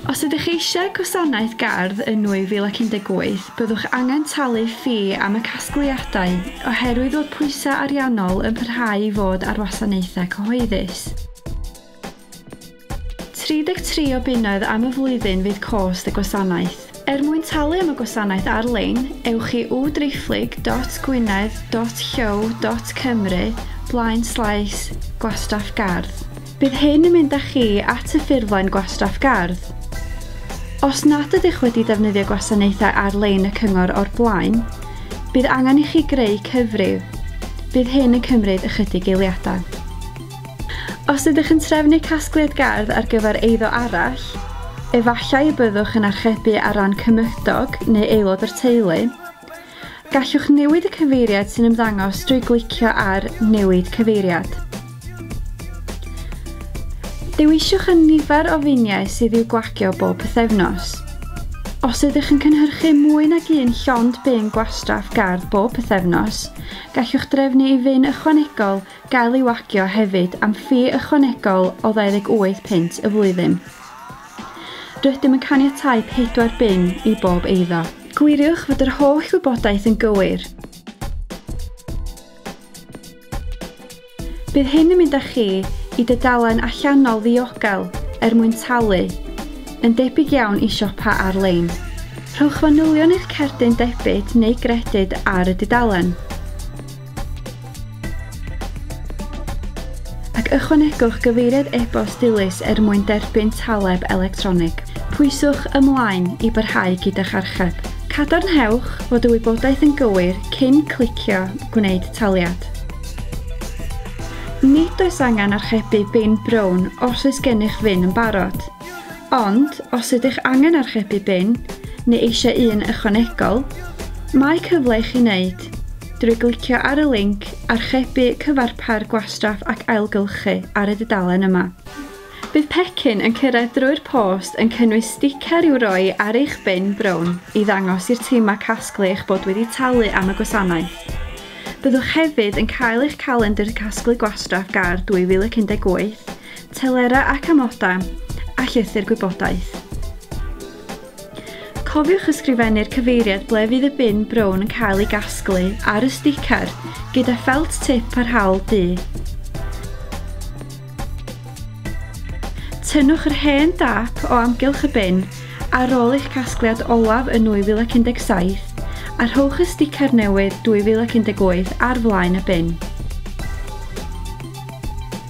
Os ydych eisiau gwasanaeth gardd yn 2018, byddwch angen talu ffi am y casgliadau oherwydd bod pwysau ariannol yn parhau i fod ar wasanaethau cyhoeddus. 33 o bunnoedd am y flwyddyn fydd cost y gwasanaeth. Er mwyn talu am y gwasanaeth ar-lein, ewch i www.gwynedd.llyw.cymru blaen slaes gwastraff gardd. Bydd hyn yn mynd â chi at y ffurflen gwastraff gardd. Os nad ydych wedi defnyddio gwasanaethau ar-lein y cyngor o'r blaen, bydd angen i chi greu cyfrif. Bydd hyn yn cymryd ychydig eiliadau. Os ydych yn trefnu casgliad gardd ar gyfer eiddo arall, efallai y byddwch yn archebu ar ran cymydog neu aelod o'r teulu. Gallwch newid y cyfeiriad sy'n ymddangos drwy glicio ar Newid Cyfeiriad. Dewiswch y nifer o finiau sydd i'w gwagio bob pythefnos. Os ydych yn cynhyrchu mwy nag un llond bin gwastraff gardd bob pythefnos, gallwch drefnu i fin ychwanegol gael ei wagio hefyd am ffi ychwanegol o 28 punt y flwyddyn. Rydym yn caniatáu pedwar bin i bob eiddo. Gwiriwch fod yr holl wybodaeth yn gywir. Bydd hyn yn mynd â chi i dydalen allanol ddiogel er mwyn talu, yn debyg iawn i siopa ar-lein. Rhowch fanylion eich cerdyn debyd neu gredyd ar y dudalen. ac ychwanegwch gyfeiriad e-bost dilys er mwyn derbyn taleb electronig. Pwyswch ymlaen i barhau gyda'ch archeb. Cadarnhewch fod y wybodaeth yn gywir cyn clicio Gwneud Taliad. Nid oes angen archebu bin brown os oes gennych fin yn barod. Ond os ydych angen archebu bin, neu eisiau un ychwanegol, mae cyfle i chi wneud, drwy glicio ar y linc Archebu Cyfarpar Gwastraff ac Ailgylchu ar y dudalen yma. Bydd pecyn yn cyrraedd drwy'r post yn cynnwys sticer i'w roi ar eich bin brown i ddangos i'r timau casglu eich bod wedi talu am y gwasanaeth. Byddwch hefyd yn cael eich calendr casglu gwastraff gar 2018 telerau ac amodau, a llythyr gwybodaeth. Cofiwch ysgrifennu'r cyfeiriad ble fydd y bin brown yn cael ei gasglu ar y sticer gyda ffelt tip parhaol du. Tynnwch yr hen dâp o amgylch y bin ar ôl eich casgliad olaf yn 2017 a rhowch y sticer newydd 2018 ar flaen y bin.